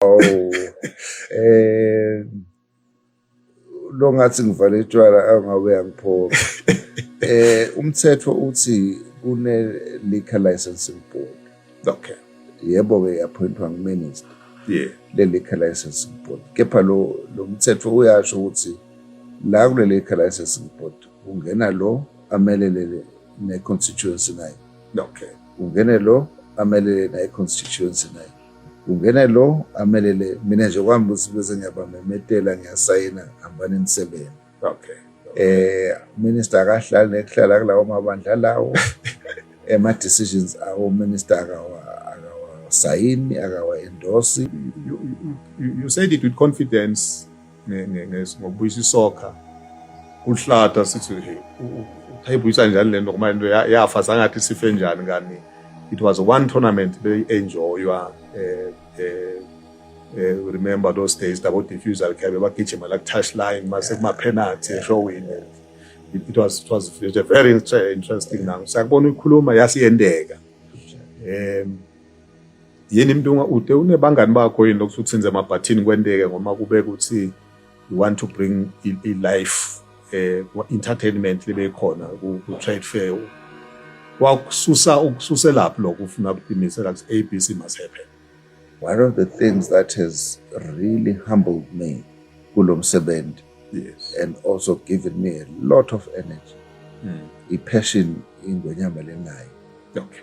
Oh, eh lo ngathi ngivale itshwala angabe yangiphoka eh umthetho uthi kune liquor licensing board okay yebo ke yaphointwa nguminister yeah le liquor licensing board kepha lo lo mthetho uyasho ukuthi la kule liquor licensing board ungena lo amelelele ne-constituency naye okay ungene lo amelele naye-constituency naye ungene lo amelele mina nje kwami ukuthi bese ngiyabamemetela ngiyasayina hambani nisebenze okay eh minister akahlali nekuhlala kulawo mabandla lawo ema decisions awo minister akawa akawasayini akawa endorse you, you, you said it with confidence ngokubuyisa isokha kuhlata sithi uthayibuyisa njani le nto ngoba into yafa zangathi sife njani kanti it was one tournament beyi-enjoywa um um remember those days labodifusal khabe bagijima la ku-touch line mase kuma-penalty eshowini it was, it was, it was a very interesting now sakubona uyikhuluma yasiyendeka um yini mntungwa ude unebangani bakho yini lokuthi uthinze amabhathini kwenteke ngoma kube ukuthi you want to bring i-life eh entertainment libe khona ku trade fair wakususa ukususelaphi lokho ufuna ukuqinisela ukuthi ABC must happen one of the things that has really humbled me kulo msebenzi yes and also given me a lot of energy mm. i-passion ingwenyama lenayo okay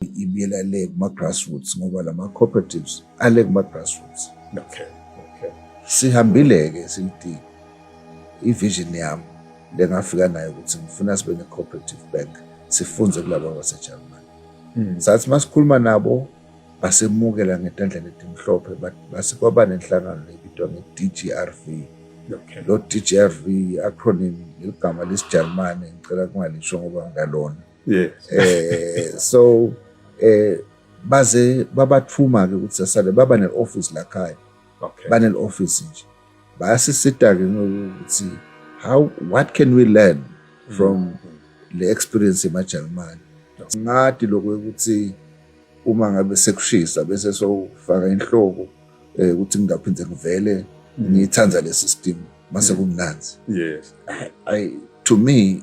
ibuyela le kuma-grassroots ngoba la ma-cooperatives ale kuma-grassroots okay. okay. sihambile-ke sithi i-vision yami le ngafika nayo ukuthi ngifuna sibe ne-cooperative bank sifunze kulaba basejalimane hmm. sathi uma sikhuluma nabo basemukela ngetandla letimhlophe base kwaba nenhlangano lebitwa nge-dgrv okay. lo-dgrv i-acronym leligama lesijalimane ngicela kungalisho ngoba ngalona yes eh so eh baze babathuma ke ukuthi sasale baba ne office la khaya okay bane office nje bayasisita ke ngokuthi how what can we learn from mm -hmm. le experience emaJalimani ngathi lokho ukuthi uma ngabe sekushisa bese sofaka inhloko eh ukuthi ngingaphinde ngivele mm. ngithanda le system mase mm. kumnanzi yes i to me